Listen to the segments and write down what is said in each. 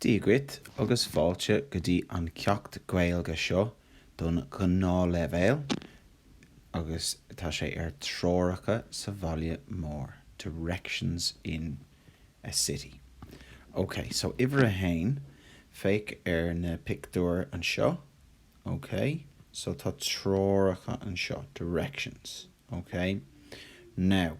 Dia dhuit agus fáilte go dtí an ceacht Gaeilge seo don ghnáthleibhéal agus tá sé ar Treoracha sa Bhaile Mór, Directions in a City. Ok, so uimhir a haon, féach ar na pictiúir anseo, ok, so tá treoracha anseo, directions, ok. Now.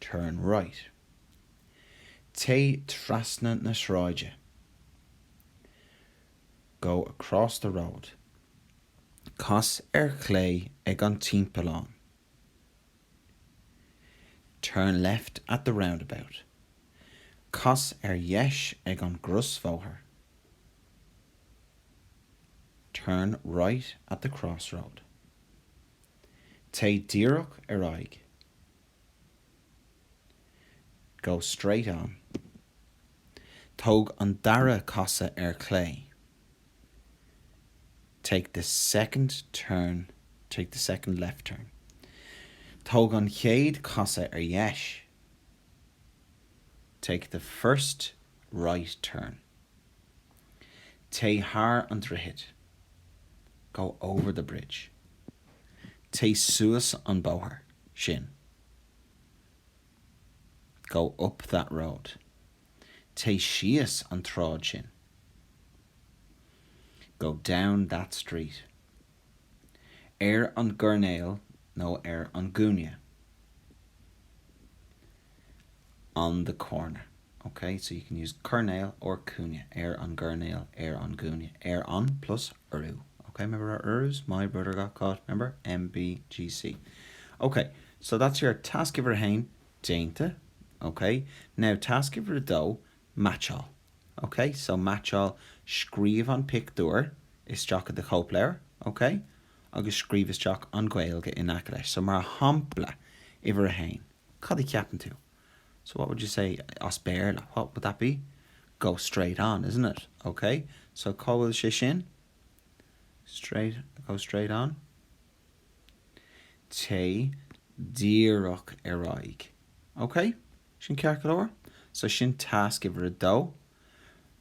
Turn right. Téigh trasna na sráide. Go across the road. Cas ar chlé ag an timpeallán. Turn left at the roundabout. Cas ar dheis ag an gcrosbhóthar. Turn right at the crossroad. Téigh díreach ar aghaidh, go straight on. Tóg an dara casadh ar chlé, take the second turn, take the second left turn. Tóg an chéad chasadh ar dheis, take the first Right turn. Téigh thar an droichead. Go over the bridge. Téigh suas an bóthar sin. Go up that road. Téigh síos an tsráid sin. Go down that street. ar an gcoirnéal nó ar an gcúinne on the corner, OK. So you can use coirnéal or cúinne, ar an gcoirnéal, ar an gcúinne, ar an plus urú, OK. Remember our urús? My brother got caught, remember? MBGC. OK, so that's your task uimhir a haon déanta, OK. Now task uimhir a dó, Meaitseáil. OK? So, meaitseáil, scríobh an pictiúr isteach i do chóipleabhar, OK? Agus scríobh isteach an Ghaeilge in aice leis. So, mar shampla, uimhir a haon, cad a cheapann tú? So, what would you say as Béarla? What would that be? Go straight on, isn't it? OK? So, cá bhfuil sé sin? Go straight on. Téigh díreach ar aghaidh. Ok? Sin ceart go leor? So sin tasc uimhir a dó.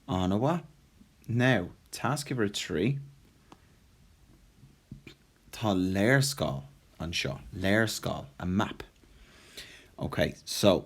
An-mhaith. Now, tasc uimhir a trí. Tá léarscáil anseo. Léarscáil, a map. Ok, so.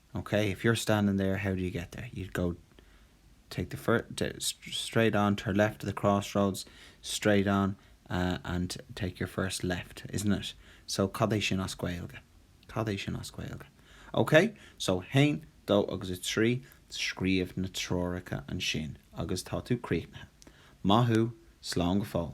OK, if you're standing there how do you get there? You'd go take the first, the, straight on, turn left at the crossroads, straight on uh and take your first left, isn't it? So cad é sin as Gaeilge? Cad é sin as Gaeilge? OK, so haon, dó agus a trí, scríobh na treoracha ansin agus tá tú críochnaithe. Maith thú, slán go fóill.